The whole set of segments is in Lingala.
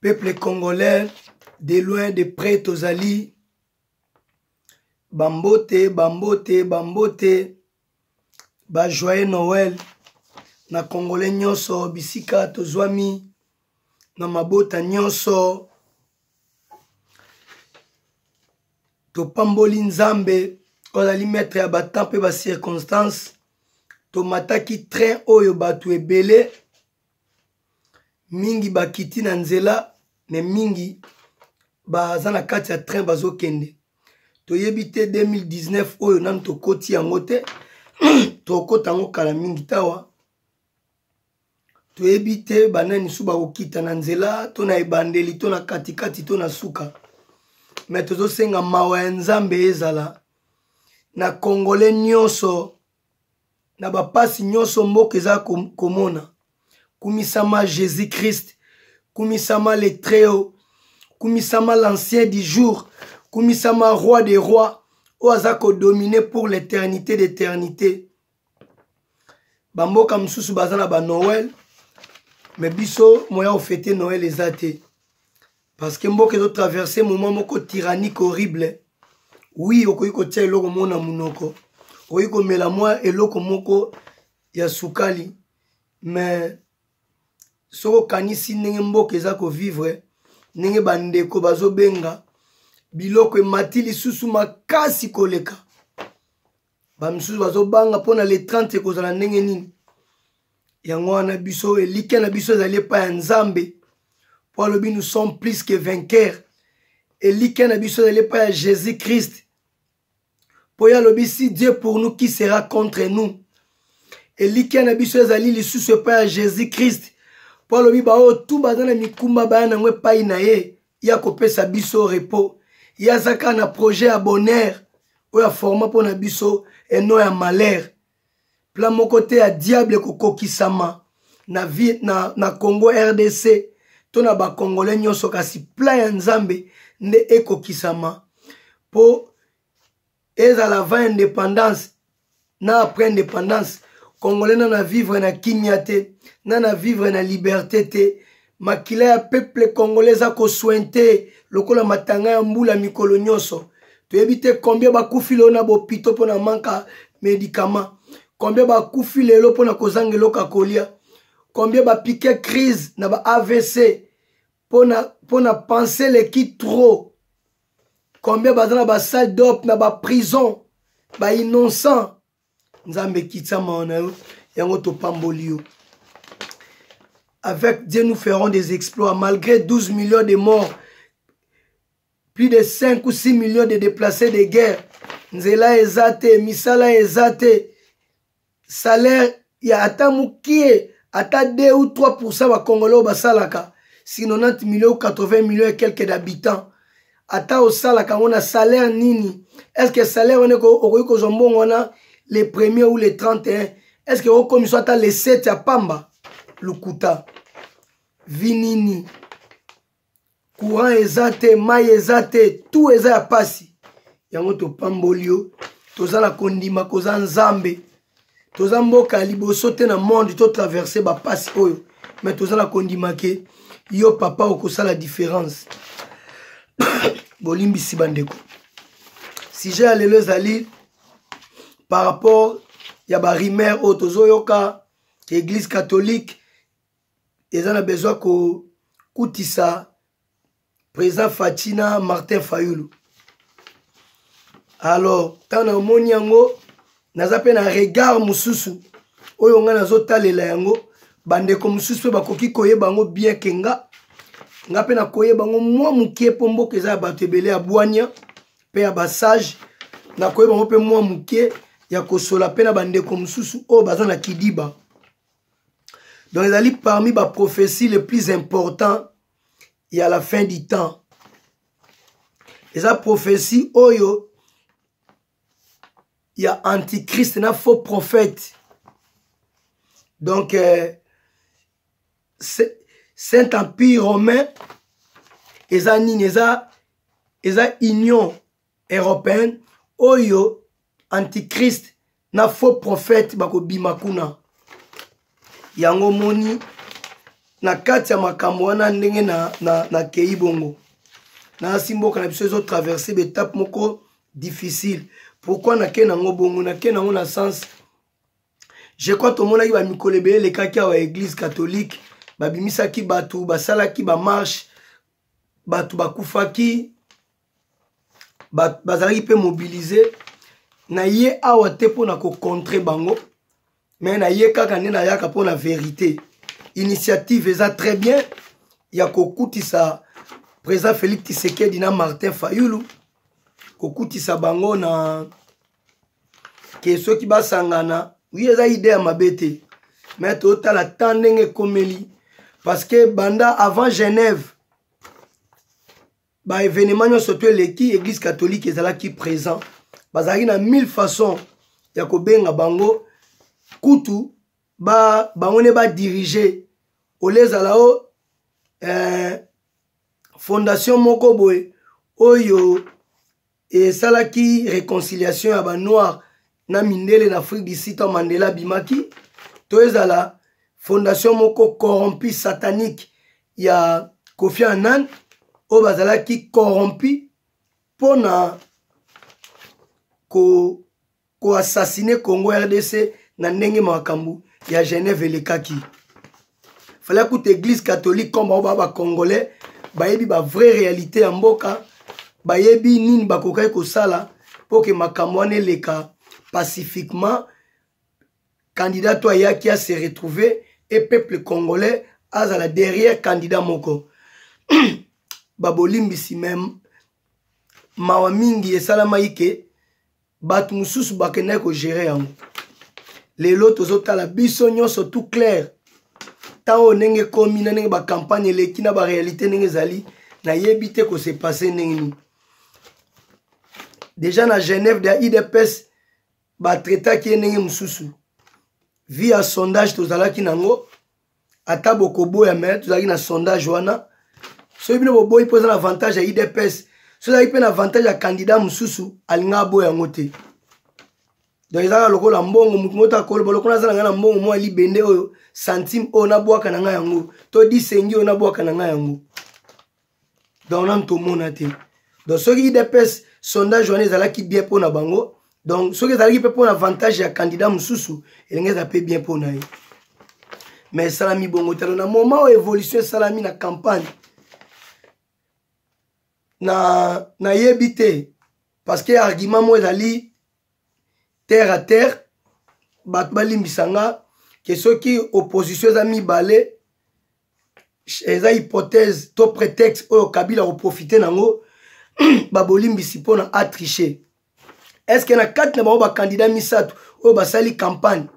peuple congolais de loin de près tozali bambote bambote bambote bajoye noel na congolais nyonso bisika tozwami na mabota nyonso topamboli nzambe ozali maître ya batemp mpe bacirconstance tomataki train oyo bato ebele mingi bakiti na nzela me mingi baza na kati ya train bazokende toyebi te 2019 oyo nanu tokoti yango te tokokota yango kala mingi tawa toyebi te banani mosusu bakokita na nzela to na ebandeli to na katikati to na suka me tozosenga mawa ya nzambe ezala na kongole nyonso na bapasi nyonso mboka eza komona kumisama jésus christ kumisama le treo kumisama l'ancien du jour kumisama roi de roi oyo aza kodomine pour l'éternité d'éternité bamboka mosusu baza na banoel me biso moya ofete noel eza te parce que mboka ezo traverse moment moko tyrannique horrible wi okoki kotia eloko moko na monoko okoki komela mwa eloko moko ya sukali mais soki okanisi ndenge mboka eza kovivre ndenge bandeko bazobenga biloko emati lisusu makasi koleka bamisusu bazobanga mpo na le 30 ekozala ndenge nini yango wana biso elikya na biso ezali epai ya nzambe mpo alobi nous sommes plus que vainqueur elikya na biso ezali epai ya jésus christ mpo ye alobi si dieu pour nous qui sera contre nous elikya na biso ezali lisusu epai ya jésus christ mpo alobi baoyo tu baza na mikumba baya nango epai na ye ya kopesa biso repos ye aza kaka na projet ya bonheur oyo aforma mpo na biso eno ya malheur plan moko te ya diable kokokisama na, vie, na, na congo rdc to na bakongole nyonso kasi plan ya nzambe nde ekokisama mpo ezala avant indépendance na après indépendance congolais na na vivre na kimia te na na vivre na liberté te makila ya peuple congolais eza kosuinte lokola matanga ya mbula mikolo nyonso toyebi te combien bakufi lelo na bopito mpo na manka médicament combien bakufi lelo mpo na kozanga eloko ya kolia combien bapike crise na ba avc pona pona pense eleki trop combien baza na basalle dop na baprison bainnocent nzambe ekitama wana yo yango topamboli yo avec dieu nous ferons des exploits malgré 12 millions de morts plus de 5 ou 6 millions de déplacés de guerre nzela eza te misala eza te salaire ya ata mukie ata 2 ou 3 pourcent bakongole oyo basalaka si 90 million ou 80 million et quelques d'habitants ata osalaka yango na salaire nini est ce que salaire wana okoki kozwa mbongo wana le premier ou le 31 est ce que okomiso ata le 7 ya pamba lokuta vi nini courant eza te mai eza te tout eza ya pasi yango topamboli yo toza na kondima koza nzambe toza mboka ya liboso te na monde totraverse bapasi oyo me toza na kondima ke yo papa okosala différence bolimbisi bandeko sujet ya lelo ezali par rapport ya barumeur oyo tozoyoka eglise catholique eza na besoin kokutisa président faci na martin fayulu alors ntango namoni yango naza mpe na regard mosusu oyo ngai nazotalela yango bandeko mosusu mpe bakoki koyeba yango bien ke nga nga mpe nakoyeba yango mwa moke mpo mboka eza ya bato ebele ya bwania mpe ya basage nakoyeba yango mpe mwa moke ya kosola mpe na bandeko mosusu oyo baza na kidiba donc ezali parmi baprophétie le plus important ya la fin du temps eza prophétie oyo ya antichrist na faux prophète donc euh, saint empire romain eza nini eza eza union européenne oyo antichrist na faux prophète bakobima kuna yango omoni na kati ya makambo wana ndenge nakei na, na, na bongo nasi mboka na biso ezotraverse baetape moko difficile pourkui nakei nango bongo nakei nango na sens je crois tomonaki bamikolo ebele elekaki awa eglise catholique babimisaki bato basalaki bamarshe bato bakufaki bazalaki mpe mobilize na ye awa te mpo na kocontre bango me na ye kaka nde nayaka mpo na verité initiative eza très bien ya kokutisa président félix tisekedi na martin fayulu kokutisa bango na ke soki basangana wi eza ide ya mabe te me totala ta ndenge ekomeli parce que banda avant genève ba événement nyonso to eleki église catholique ezalaki présent bazalaki na 1000 façon ya kobenga bango kutu ba, bango nde badirige olie ezala o eh, fondation moko boye oyo esalaki reconciliation ya banoir na mindele na afrique du sud ntango mandela abimaki to ezala fondation moko corrompu satanique ya kofi anan oyo bazalaki corrompu mpo na ko ko assassiner Congo RDC na ndenge makambo ya Genève elekaki fallait kuta église catholique comme bango baa bacongolais bayebi bavrai réalité ya mboka bayebi nini bakokaki kosala mpo ke makambo wana eleka pacifiquement candidat to ayaki ase retrouve e peuple congolais azala derrière candidat moko babolimbisi meme mawa mingi esalamaki ke bato mosusu bakendaki kogere yango lelo tozotala biso nyonso tout clair ntango oyo ndenge ekomi na ndenge bacampagne eleki na barealité ndenge ezali nayebi te kose passe ndenge nini deja na genève de idps batraitaki ye ndenge mosusu vi ya sondage tozalaki nango ata bokoboya me tozalaki na sondage wana soki bino boboyi mpo eza na avantage ya idps soki ezalaki mpe na avantage ya candidat mosusu alinga aboya yango te donc ezalaka lokola mbongo motu moko takoloba lokola aza na ngai na mbongo mwa libende oyo santime oyo nabwaka na ngai yango to disengi oyo nabwaka na ngai yango donc nanu tomona te donc soki idps sondage wana ezalaki bien mpo na bango donc soki ezalaki mpe mpo na avantage ya candidat mosusu elingi eza mpe bien mpo na ye mais esalami bongo talo na moment oyo évolution esalami na campagne na nayebi te parce que argument moko ezali terre à terre bato balimbisa nga ke soki opposition eza mibale eza hypothèse to prétexte oyo kabila koprofite nango babolimbisi mpo na atriche estce na kati na bango bakandida misato oyo basali campagne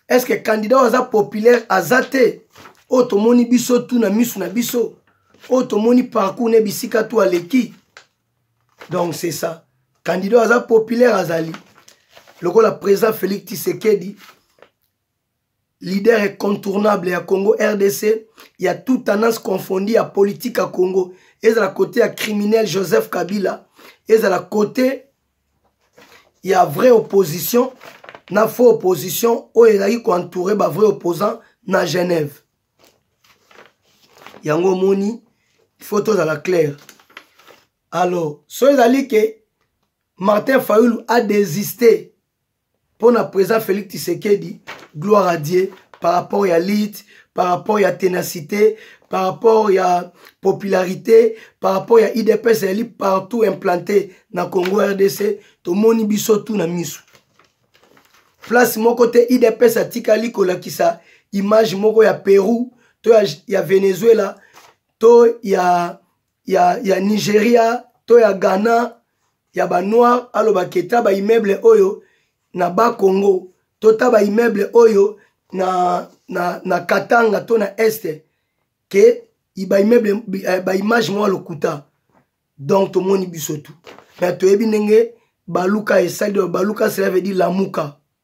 estce kandida oyo aza populaire aza te oyo tomoni biso tu na miso na biso oyo tomoni parcours na bisika tu aleki donc c'est ça kandida oyo aza populaire azali lokola président félix tisekedi leader incontournable ya congo rdc ya tout tendance confondi ya politique ya congo ezala kote ya criminel joseph kabila ezala kote ya vraie opposition na faux opposition oyo ezalaki koentoure bavrai opposant na genève yango omoni faut tozala claire alors so ezali ke martin fayulu adesiste mpo na président félix tisekedi gloire à dieu par rapport ya lite par rapport ya ténacité par rapport ya popularité par rapport ya idps ezali partout implanté na congo rdc tomoni biso tu na miso place moko te idps atikali kolakisa image moko ya pérou to ya, ya venezuela to ya ya, ya nigeria to ya ghana ya banoir aloba ke ta baimmeuble oyo na bakongo to ta baimmeuble oyo na, na, na katanga to na este ke baimmeuble eh, baimage mwa lokuta donc tomoni biso tu me toyebi ndenge baluka esali baluka cela veut dire lamuka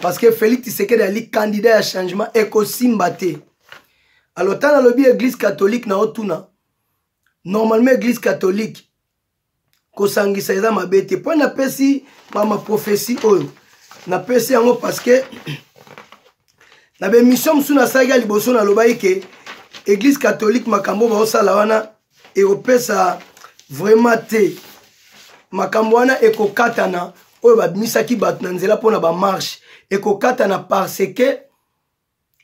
parce que félix tisekedi ali candidat ya changement ekosimba te alors ntango alobi église catholique na otuna normalement église catholique kosangisa eza mabe te mpo napesi mama prophesie oyo napesi yango parce que na bemission mosusu nasalaki ya liboso nalobaki ke église catholique makambo baosala wana ekopesa vraiment te makambo wana ekokatana oyo babimisaki bato na nzela mpo na bamarshe ekokatana parce que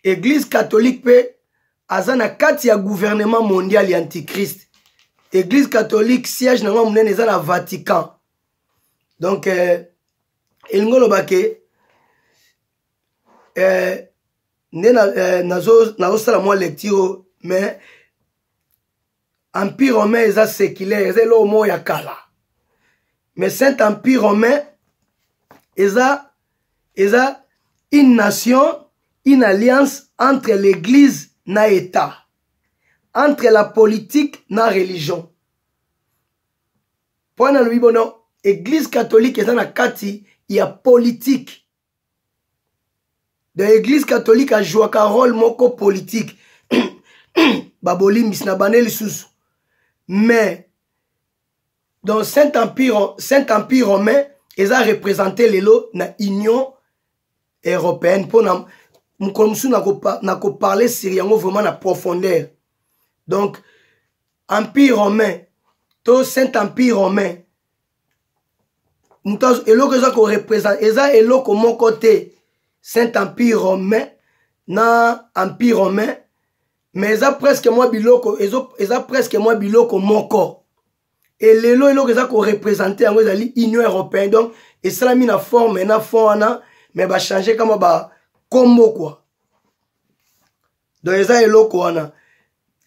eglise catholique mpe aza na kati ya gouvernement mondial ya antichrist eglise catholique siège na yango monene eza na vatican donc euh, elingi oloba ke euh, nde nazosala na, euh, nazosala mwa lecture mais empire romain eza séculaire eza eloko moko ya kala mais saint empire romain eza eza une nation une alliance entre l'église na état entre la politique na religion mpo nalobi bono église catholique eza na kati ya politike da eglise catholique ajwaka role moko politike babolimbisi na bane lisusu mais dans saint empire, saint empire romain eza représente lelo na union européenne mpo na mokolo mosusu nakoparle sur yango vraiment na profondeur donc empire romain to saint empire romain moto eloko eza korepresente eza eloko moko te saint empire romain na empire romain mais eza presque mwa biloko ezo, eza presque mwa biloko moko e lelo eloko eza korepresente yango ezali union européen donc esalami na forme na fond wana mais bachange kama bakombo kua donc eza eloko wana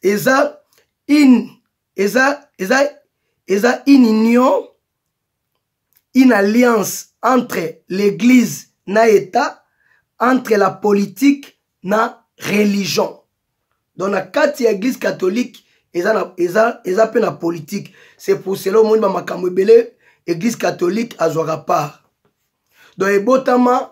eza une eza eza eza une union une alliance entre l'église na état entre la politique na religion donc na kati ya église catholique eza, na, eza, eza pe na politique c'est pour cela omoni bamakambo ebele église catholique azwaka part donc ebotama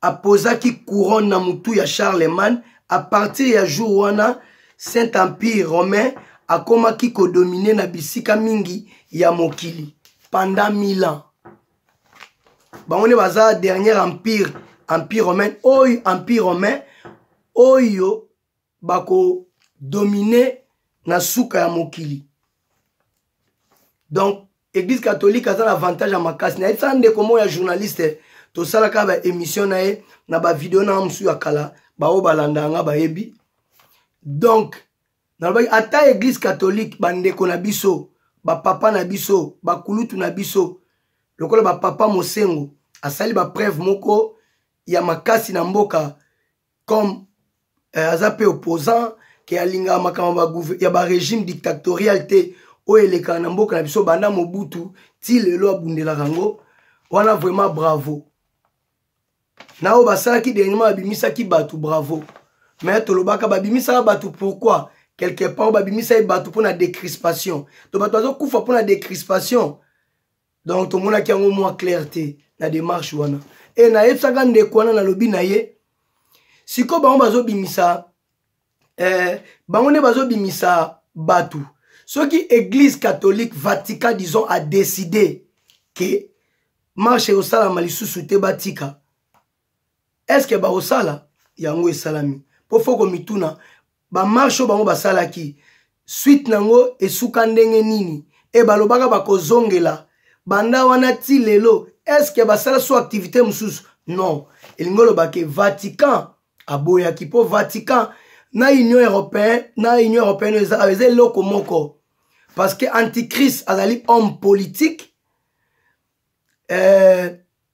apozaki couronne na motu ya charlemagne a partir ya jour wana saint empire romain akomaki kodomine na bisika mingi ya mokili pendant 1000 ans bango nde baza dernier empire empire romain oyo empire romain oyo bakodomine na suka ya mokili donc église catholique aza na avantage ya makasi nayebisaka ndeko moko ya journaliste tosalaka baémission na ye na bavideo na nga mosusu ya kala baoyo balanda yanga bayebi donc nalobaki ata église catholique bandeko na biso bapapa na biso bakulutu na biso lokola bapapa mosengo asali bapreuve moko ya makasi na mboka comme euh, aza mpe opposant ke alingaka makambo ya barégime dictatorial te oyo elekaka na mboka na biso banda mobutu ti lelo abundelaka yango wana vraiment bravo na oyo basalaki dernièrement babimisaki bato bravo me tolobaka babimisaka bato pourquoi quelque part babimisaki bato mpo na décrispation to bato bazokufa mpo na décrispation donc tomonaki yango mwa claire te na démarche wana e nayebisaka ndeko wana nalobi na ye sikoyo bango bazobimisa eh, bango nde bazobimisa bato soki église catholique vatican disons a décide ke marche ekosalama lisusu te batika estce bakosala yango esalami mpo fo komituna bamarche oyo bango basalaki suite na yango esuka ndenge nini e balobaka bakozongela banda wana ti lelo eske basala so activité mosusu non elingi oloba ke vatican aboyaki mpo vatican na union européen na union européenne eza ayo eza eloko moko parce que antichrist azali homme politique euh,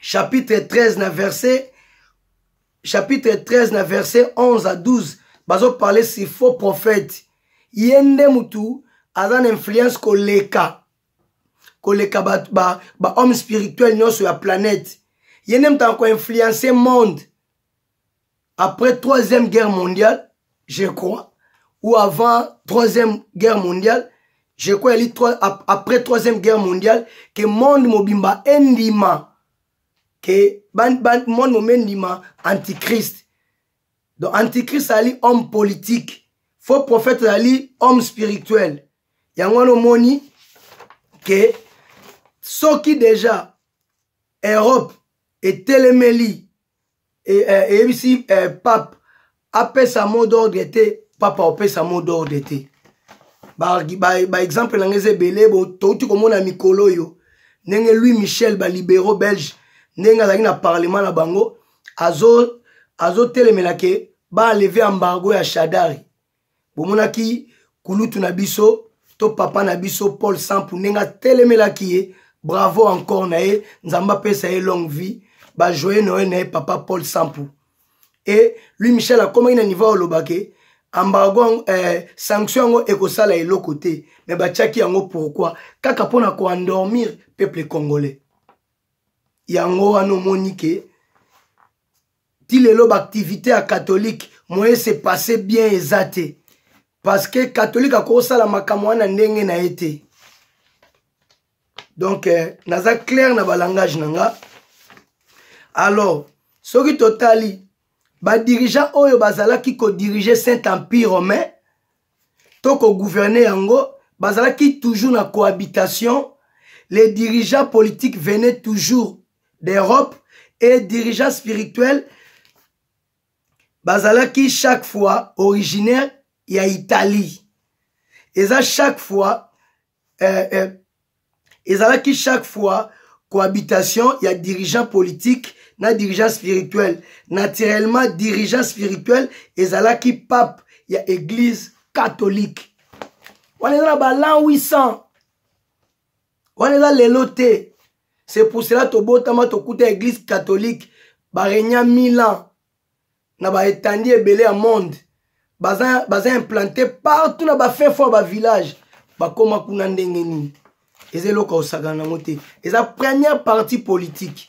chapitre 13 na verset chapitre 13 na verset 11 à 12 bazoparle si faux prophète ye nde mutu aza na influence koleka koleka bahomme ba, ba spirituel nyonso ya planète ye nde moto akoinfluence monde après troisième guerre mondiale je crois ou avant troisième guerre mondiale je crois yali après troisième guerre mondiale ke monde mobimba endima ke monde mobimba endima antichrist donc antichrist azali homme politique faux prophète azali homme spirituel yango wana omoni ke soki deja europe etelemeli e, e, eyebisi e, e, pape apesa mot d'ordre te papa opesa mot d'ordre te baexemple ba, ba na ngai eza ebele touti komona mikolo oyo ndenge louis michel balibéraux belge ndenge azalaki na parlement na bango azotelemela azo ke baaleve embargo ya shadari bomonaki kulutu na biso to papa na biso paul sampu ndenge atelemelaki ye bravo encore na ye nzambe apesa ye longue vie bajoye noye na ye papa paul sampu e lui michel akomaki na niveau olobake ambargo eh, sanction yango ekosala eloko te me batiaki yango pourkui kaka mpo na koendormir peuple congolais yango wana omoni ke ti lelo baactivité ya catholique moye se passe bien eza te parce que catholique akosala makambo wana ndenge na ye te donc eh, naza claire na balangage na nga alors soki totali badirigant oyo bazalaki kodirige saint empire romain to kogouverne yango bazalaki toujours na cohabitation les dirigeants politiques venaient toujours d'europe et dirigeant spirituel bazalaki chaque fois originaire ya italie eza chaque fois euh, euh, ezalaki chaque fois cohabitation ya dirigeant politique na dirigeant spirituel naturellement dirigeant spirituel ezalaki pape ya église catholique wana eza na balan 800 wana eza lelo te c'est pour cela tobotama tokuta église catholique barenia mille ans na baetandi ebele ya monde baza, baza implante partout na bafin fo ya bavillage bakóma kuna ndenge nini eza eloko ya kosakana yango te eza première partie politique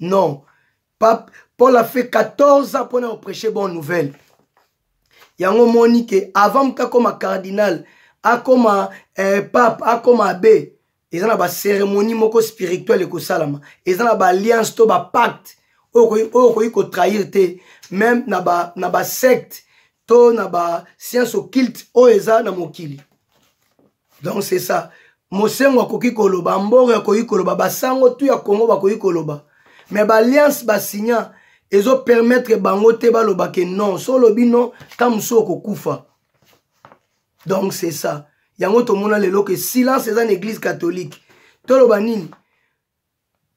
non pape paul afe 14 ans mpona kopreche bonne nouvelle yango omoni ke avant moto akoma cardinal akoma eh, pape akoma abe eza na baceremonie moko spirituel ekosalama eza na baalliance to bapacte oyo okoki kotrahir te meme na basecte ba to na bascience occulte oyo eza na mokili donc c'est ça mosengo akoki koloba mboro akoki koloba basango tu ya congo bakoki koloba mais baalliance basigna ezopermettre bango te baloba ke non so olobi non ta mosusu okokufa donc c'est ça yango tomona lelo ke silence eza na église catholique toloba nini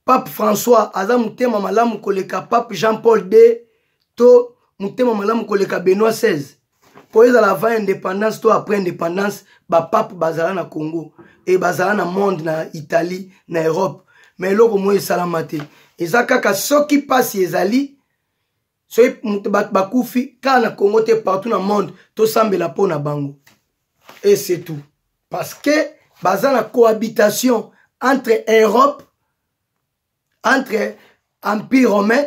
pape françois aza motema malamu koleka pape jean paul d to motema malamu koleka benoit 16 mpo ezala avant indépendance to après indépendance bapape bazala na congo e bazala na monde na italie na europe ma eloko moi esalama te eza kaka soki mpasi ezali soki moto bato bakufi kaka na congo te partout na monde tosambela mpo na bango et c'est tout parce que baza na cohabitation entre europe entre empire romain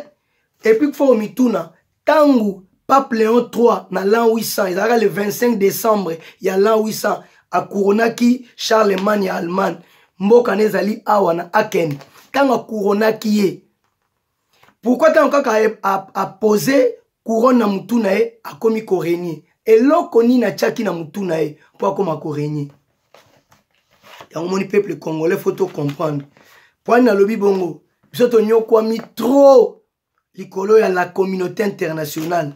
epuis kufo komituna ntango pape léon 3 na l'an 800 ezalaka le 25 décembre ya l'an 800 akuronaki charlemagne ya allemagne mboka na ezali awa na aken ntango akuronaki ye pourkui ntango kaka apose couronne na motu na ye akomi koregne eloko nini atiaki na motu na ye mpo akoma koregne yango moni peuple congolais fo tocomprendre mpoani nalobi bongo biso tonyokwami trop likolo ya la communauté internationale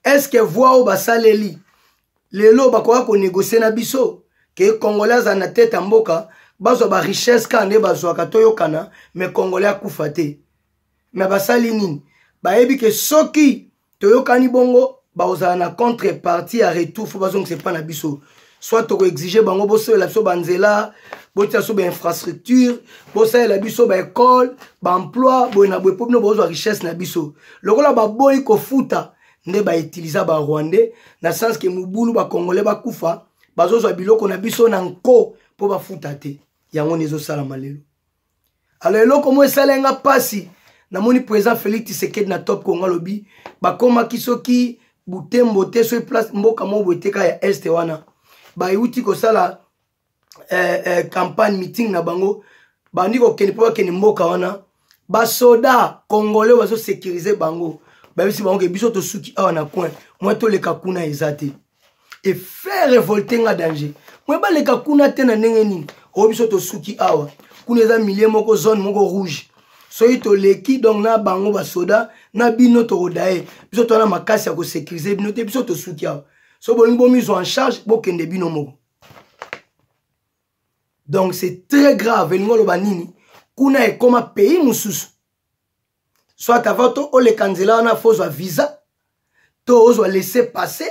est ce que voi oyo basaleli lelo bakoya konegocie na biso ke congolais azala na tete ya mboka bazwa barichesse kaka nde bazwaka toyokana me congolais akufa te me basali nini bayebi ke soki toyokani bongo bakozala na contre parti ya retour fo bazongisa epai na biso soit tokoexige bango bosalela biso banzela botia biso bainfrastructure bosalela biso baekole baemploi boye na boye mpo bino bozwa richesse na biso lokola baboyi kofuta nde ba utiliser ba rwandais na sens que mubulu ba congolais bakufa bazozwa biloko na biso na nko mpo bafuta te yango nde ezosalama lelo alors eloko moko esala nga mpasi namoni président félix tisekedi na top kongo alobi bakomaki soki butembo te soki place mboka moko boye teka ya este wana bayuti kosala eh, eh, campagne meeting na bango bandi kokende mpo bakende mboka wana basoda congolais bazosecurise bango bayebisi bango ke biso tosuki awa na coin mwa toleka kuna eza te efe revolte nga danger mwa baleka kuna te na ndenge nini oyo biso tosuki awa kuna eza milie moko zone moko rouge soki toleki donc na bango basoda na bino tokodaye biso towana makasi ya kosecurise bino te biso tosuki awa so bolingi bomizwa en charge bokende bino moko donc c'est très grave elingi oloba nini kuna ekoma pays mosusu soit avant to oleka nzela wana fo ozwa visa to ozwa laisse passe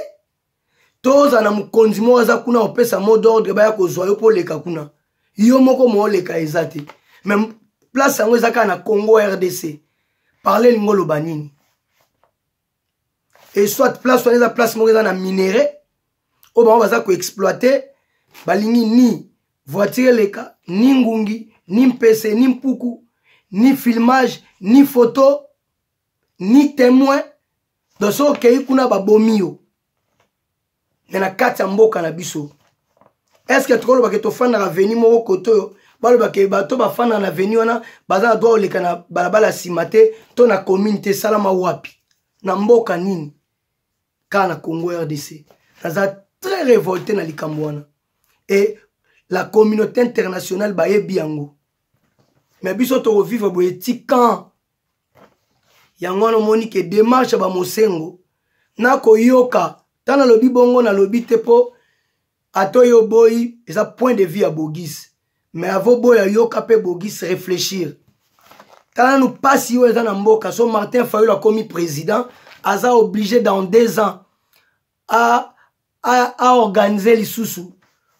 to ozala na mokonzi moko aza kuna opesa mot d'ordre baya kozwa yo mpo oleka kuna yo moko mooleka eza te me place yango eza kaka na congo rdc parle elingi oloba nini et soit place wana eza place moko eza na minerai oyo bango baza koexploite balingi ni voiture eleka ni ngungi ni mpese ni mpuku ni filmage ni photo ni témoin donc soki okei kuna babomi yo me na kati ya mboka na biso estce tokoloba ke tofandaka veni moko kote oyo baloba ke bato bafandaka na veni wana baza na droit koleka na balabala ya nsima te to na commune te esalama wapi na mboka nini kaka na congo rdc naza très révolté na likambo wana e la communauté internationale bayebi yango me biso tokovivre boye ti quand yango wana omoni ke demarche ya bamosengo nakoyoka ntango nalobi bongo nalobi te mpo ata oyo oboyi eza point de vue ya bogis mais avo boya yoka mpe bogis réfléchir tala nanu mpasi oyo eza na mboka so martin fayolo akomi président aza oblige dans deux ans aorganize lisusu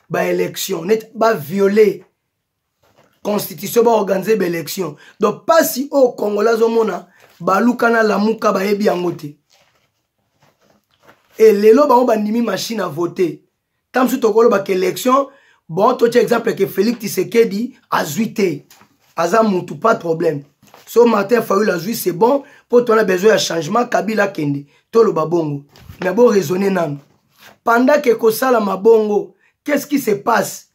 baélection neti baviole constitution baorganize baélection donc mpasi oyo kongola azomona baluka na lamuka bayebi yango te e lelo bango bandimi machine a vote ntango mosusu tokolobaka élection bon totya exemple ke félix tisekedi azwi te aza mutu pas de problème so martin fayul azwi c'est bon mpo tona besoin ya changement kabila akende toloba bongo mais bo raisonne nanu pendant ke kosalama bongo qu'est-ce qui se passe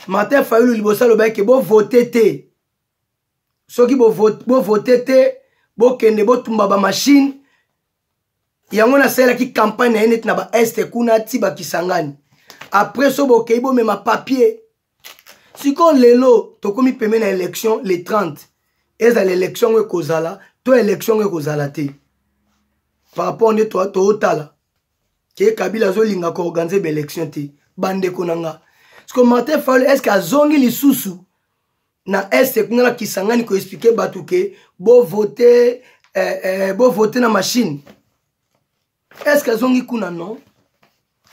martin fayulu liboso alobaki ke bovote te soki bovote te bokende botumba bamashine yango nasalelaki campagne na ye neti na baeste kuna ti bakisangani apres so bokei bomema papier sikoyo lelo tokomi pembe na election le 30 ezala election yango ekozala to election yango ekozala te par rapport nde tootala ke kabila azolinga koorganize baelection te bandeko na nga siko martin faul est ce que azongi lisusu na este kuna na kisangani koexplike bato ke bovote eh, eh, bovote na mashine est ce que azongi kuna non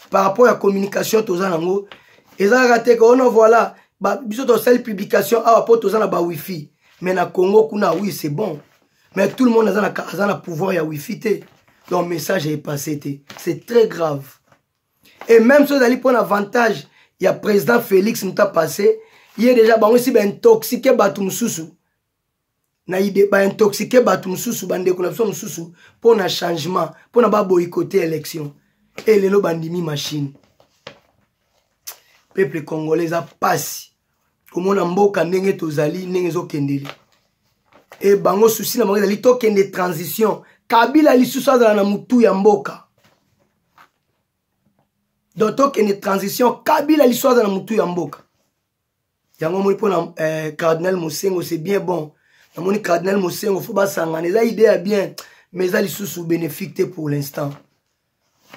par rapport ya communication toza nango eza kaka te ke ono oh voilà biso tosali publication awa mpo toza na ba wifi mais na congo kuna oui c'est bon mais tout le monde aza na, aza na pouvoir ya wifi te donc message est passé te c'est très grave et même so ezali mpo na avantage ya président félix muta passé ye déjà bango esi baintoxike bato mosusu na ide baintoxike bato mosusu bandeko na biso mosusu mpo na changement mpo na baboyikote élection e lelo bandimi machine peuple congolais eza mpasi komona mboka ndenge tozali ndenge ezokendele e bango susi na bango ezali tokende transition kabila lisusu azala na motu ya mboka donc tokende transition kabila lisusu azala na motu ya mboka yango omoni mpo na eh, cardinal mosengo c'est bien bon namoni cardinal mosengo fo basangana eza idée ya bien mais eza lisusu bénéfique te pour l'instant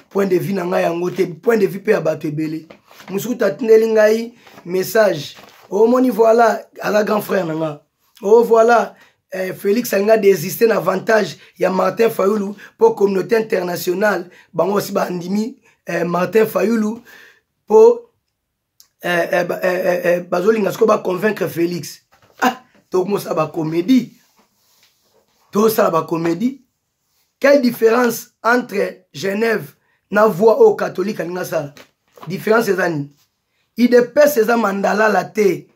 point de vue na ngai yango te point de vue mpe ya bato ebele mosuku tatindeli ngai message omoni oh, voilà aza grand frère na nga o oh, voilà eh, félix alingi adesiste na avantage ya martin fayulu mpo communauté internationale bango osi bandimi eh, martin fayulu mpo eh, eh, eh, eh, bazolinga sikoyo baconvaincre félix ah, tokomosala bacomédie tosala bacomédie quelle différence entre genève na voix oyo catholique alingi asala différence eza nini idps eza mandalala te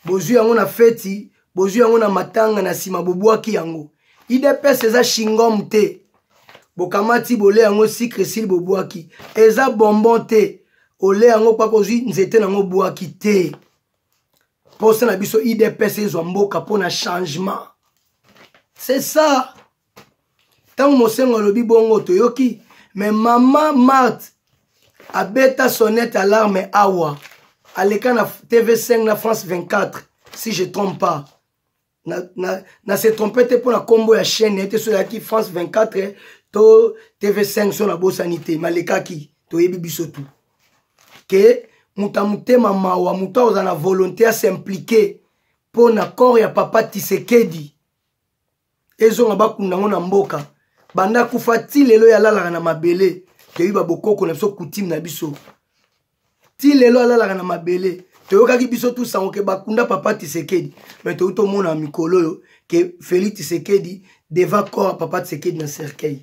bozwi yango na feti bozwi yango na matanga na nsima bobwaki yango idps eza shingom te bokamati bole yango sikre sili bobwaki eza bonbon te ole yango kpaka ozwi nzete nango obwaki te mposa na biso idps ezwa mboka mpo na changement c'est ça ntango mosengo alobi bongo toyoki me mama marte abeta sonnette alarme awa aleka na tv5 na france 24 si je trompe pas na, na, na se trompe te mpo na nkombo ya chaîne ete so eyaki france 24 to tv5 so nabosani te malekaki toyebi biso tu ke moto ya motema mawa moto akozala na volonté ya s'implike mpo na corps ya papa tisekedi ezonga bakunda yango na mboka banda akufa ti lelo ye alalaka na mabele toyeba bokoko na biso kutime na biso ti lelo alalaka na mabele toyokaki biso tu sango ke bakunda papa tisekedi me toyuti omona mikolo oyo ke feli tisekedi devant corps papa tisekedi na cercueil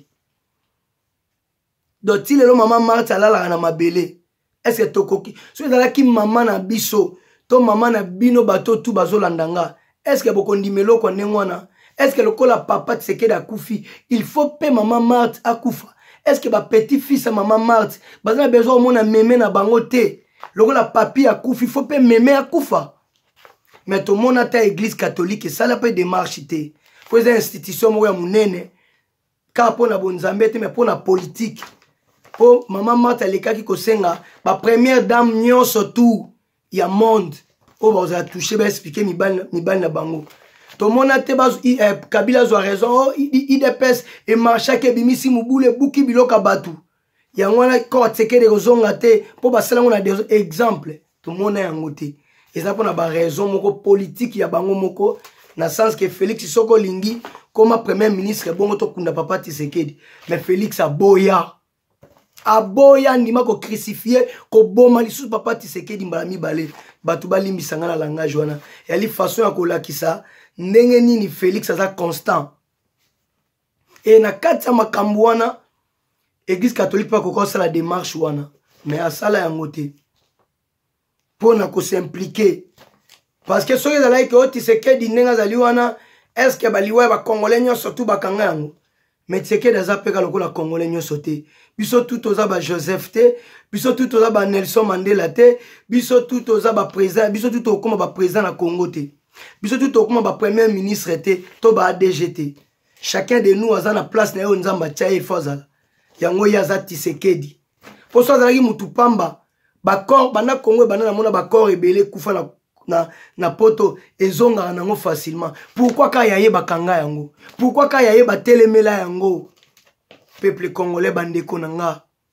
donc ti lelo mama marti alalaka na mabele eske tokoki soki ezalaki mama na biso to mama na bino bato tu bazolanda nga eske bokondima eloko ya ndenge wana eske lokola papa tisekedi akufi il faut mpe mama marti akufa eske bapetit fils ya mama marti baza na besoin omona meme na bango te lokola papi akufi faut mpe meme akufa me tomona ata eglise catholique esala mpe demarche te mpo eza institution moko ya monene kaka mpo na bonzambe te me mpo na politike mpo mama mata alekaki kosenga bapremière dame nyonso tour ya monde oyo bakozala touche baexplike mibali na bango tomona te eh, kabila azwa raison o oh, idps emarchaki ebimisi mobulu ebuki biloko ya bato yango wana cote ekende kozonga te mpo basala yango na exemple tomona yango te eza mpo na baraison moko politike ya bango moko na sens ke félix soki olingi koma premier ministre bongo tokunda papa tisekedi mais félix aboya aboya andima kocrucifie koboma lisusu papa tisekedi mbala mibale bato balimbisa ngai na langage wana yali façon ya kolakisa ndenge nini félix aza constant e na kati ya makambo wana eglise catholique mpe akoki osala démarche wana mais asala yango te mpo na kosimplike parce que soki ezalaki ke otisekedi ndenge azali wana est ce que baliwa ya bacongolais nyonso tu bakanga yango mais tshisekedi aza mpe ka lokola congolais nyonso te biso tu toza bajoseph te biso tu toza banelson mandela te biso tu toza baprésident biso tu tokokoma baprésident na congo te biso tu tokokoma bapremier ministre te to baadg te chacun de nous aza na place na ye oyo nzambe atya ye fo azala yango ye aza tisekedi mpo so azalaki motu pamba bacor banda congo ebanda namona bacor ebele ekufa na, na, na poto ezongaka nango facilement pourkui ka ya ye bakanga yango pourkui ka ya ye batelemela yango peuple congolais bandeko na nga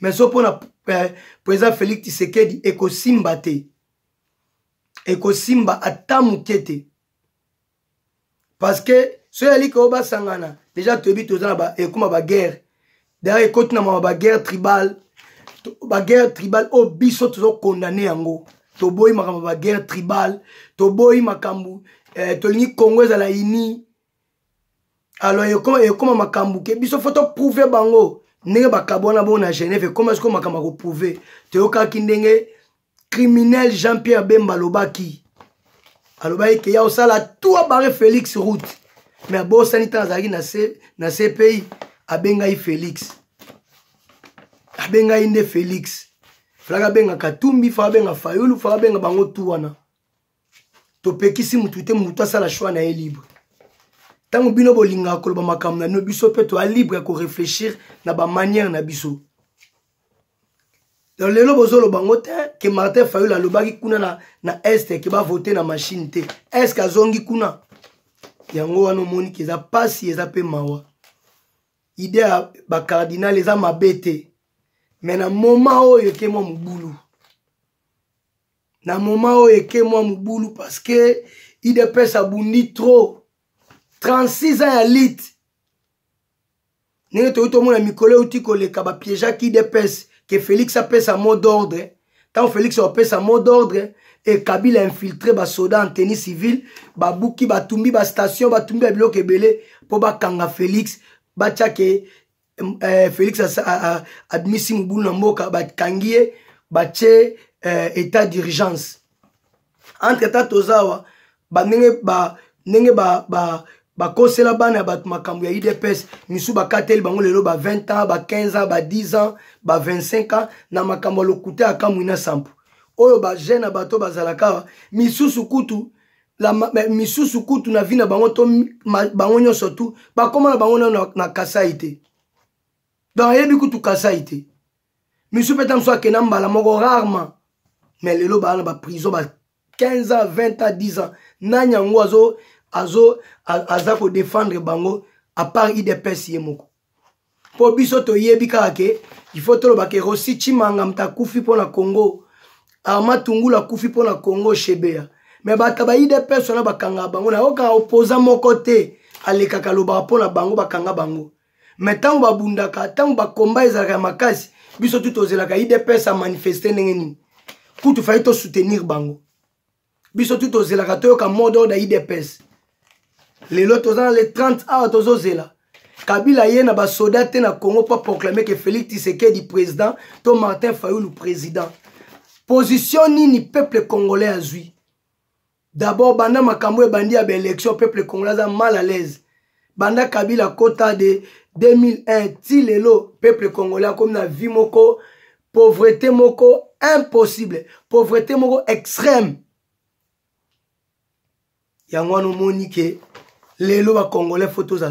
mais so mpo na eh, président félix tisekedi ekosimba te ekosimba ata moke te parce que so eyali keo basangana deja toyebi toza na ekoma baguerre daya ekoti na mama baguerre tribale baguerre tribale oyo biso tozokondane yango toboyi makambo ya baguerre tribale toboyi makambo eh, tolingi congo ezala ini alors ekoma ekoma makambo ke biso fo toprouve bango ndenge bakabwana bongo na genève ekoma sikoyo makambo ya koprouve toyokaki ndenge criminel jean pierre bemba alobaki alobaki ke ya osala tout abare félix route mais abosani ntango azalaki na, C, na cpi abengai félix abengai nde félix falaka abenga katumbi faka abenga fayulu faka abenga bango tu wana topekisi motu te motu asala choix na ye libre ntango bino bolingaka koloba makambo na bino biso mpe toya libre ya koreflechir na bamanière na biso donc lelo bozoloba yango te ke martin fayul alobaki kuna na, na este ke bavote na machine te eske azongi kuna yango wana omoni ke eza mpasi eza mpe mawa ide ya bacardinal eza mabe te me na moma oyo ekema mobulu na moma oyo eke mwa mobulu parce que idps abundi trop 36 ans ya lite ndenge toyei tomona mikolo euti koleka bapiejaki idps ke félix apesa mot d'ordre ntango félix apesa mot d'ordre e kabila infiltre basoda en tenue civile babuki batumbi bastation batumbi ya biloko ebele mpo bakanga félix batyake eh, félix abimisi mobulu na mboka bakangi ye batye eh, état d'urgence entre temps toza awa bandenge ba, ndenge ba, ba, bakosela bana ya bato makambo ya idps misusu bakateli bango lelo ba 20 ans ba 15 ans ba 10 ans ba 25 ans na makambo ya lokuta ya kamwina sampo oyo bajeune ya bato bazalaka misusu kutu la misusu kutu na vie na bango to bango nyonso tu bakoma na bango nano na, na kasai te donc ayebi kutu kasai te misu mpe ta mosusu akenda mbala moko rarement mais lelo baa na baprison ba 15 ans 20 ans 10 ans nani yango azo azo aza kodefendre bango apart idps ye moko mpo biso toyebi kaka ke il faut toloba ke rosi chimanga moto akufi mpo na congo arma tungulu akufi mpo na congo shebeya me bato ya baidps wana bakangaka bango nayokaka opoza moko te alekaka alobaka mpo na bango bakanga bango me ntango babundaka ntango bakomba ezalaka ya makasi biso tu tozelaka idps amanifeste ndenge nini kutu fai tosoutenir bango biso tu tozelaka toyoka mode oyo na idps lelo toza na le 30 awa tozozela kabila ye na basoda te na congo mpo proclame ke félix tisekedi président to martin fayulu président position nini peuple congolais azwi d'abord banda makambo ebandi ya baélection peuple congolais aza mal à l'aise banda kabila kota de 2001 ti lelo peuple congolais akomi na vie moko pauvreté moko impossible pauvreté moko extrême yango wana omoni ke lelo bacongolais fo tozala